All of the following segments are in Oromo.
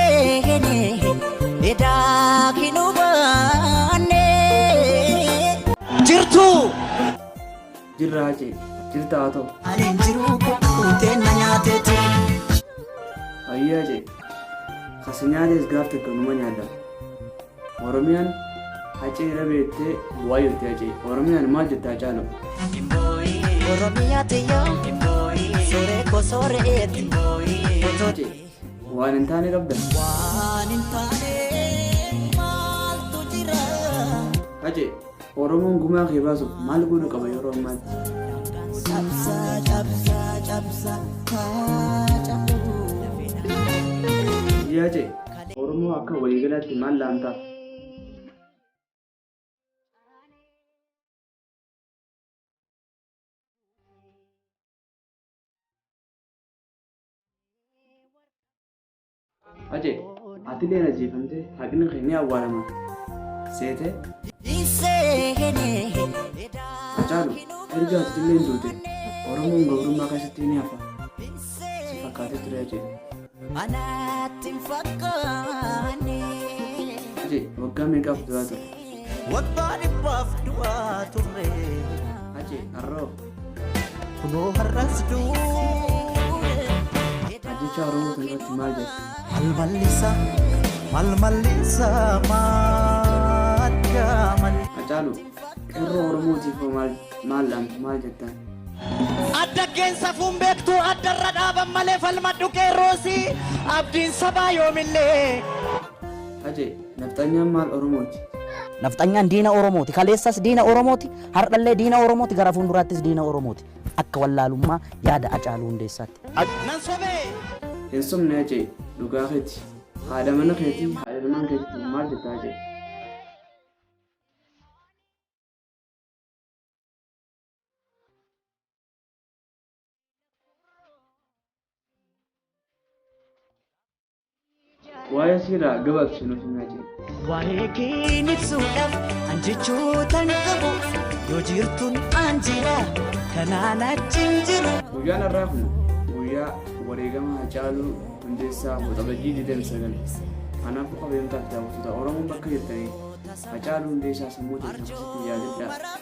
seene edaa hin hubanne. Jirtuu! Jirraa jee. Jirtaa too. Ani hin jiru kukkutee na nyaateeti. Ayyaa jee. Kasi nyaatees gaaf tokko numa nyaadha. Oromiyaan hacee irra beektee bu'aa jirti hacee. Oromiyaan maal jette hacaalu? Oromiyaa tiyyaa. Sooree koo sooree eeti. Hacee. Waan hin taane qabda. Waan hin taane maaltu jira? Hacee, Oromoon gumaa kee baasuuf maal godhu qaba yeroo ammaatti? Cabsa cabsa cabsa haaca'u. Yaa Hacee, Oromoo akka waliigalaatti maal laantaaf? Hacee, atileen ajjeefamtee haqni kee ni awwaalama. Seetee? Hacaalu, erga atileen duute Oromoon gabrummaa keessatti ni hafa. Si fakkaatee ture Hacee. Anaatti hin fakkaanne. Hacee, waggaa meeqaaf du'aa ture? Waggaa dhibbaaf du'aa ture. Hacee, har'oo. Kunoo har'as duune. Ajjeechaa Oromoo kana irratti maal jettu? Mal mallisa, mal mallisa, madda malli. Hacaalu, qeerroo Oromootiif hoo maal maal dhaamtu maal jettaan? Addaggeen safuun beektu addarra dhaaban malee falmadhu qeerroosi abdiin sabaa yoomillee. Hace, nafxanyaan maal Oromooti? Nafxanyaan diina Oromooti. Kaleessas diina Oromooti. Hardhallee diina Oromooti gara fuunduraattis diina Oromooti. Akka wallaalummaa yaada Hacaaluu Hundeessaatti. Hin sobne Hacee, dhugaa keeti. Haadha mana keetii, haadha ilmaan keetiitiif maal jetta Hacee? Waa'ee siiraa gabaabsee nuuf himee jira. Waa'ee keen ibsuudhaaf an jechootan qabu yoo jirtuun an jira kanaan achiin jiru. Guyyaan har'aa kun guyyaa wareegama Hacaaluu Hundeessaa Waxabajjii 29. Kanaafuu kabajamtoota daawwattoota Oromoon bakka jirtanii Hacaaluu Hundeessaa sammuu teessan keessatti yaadadhaa.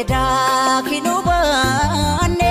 Edaa kinuu baannee.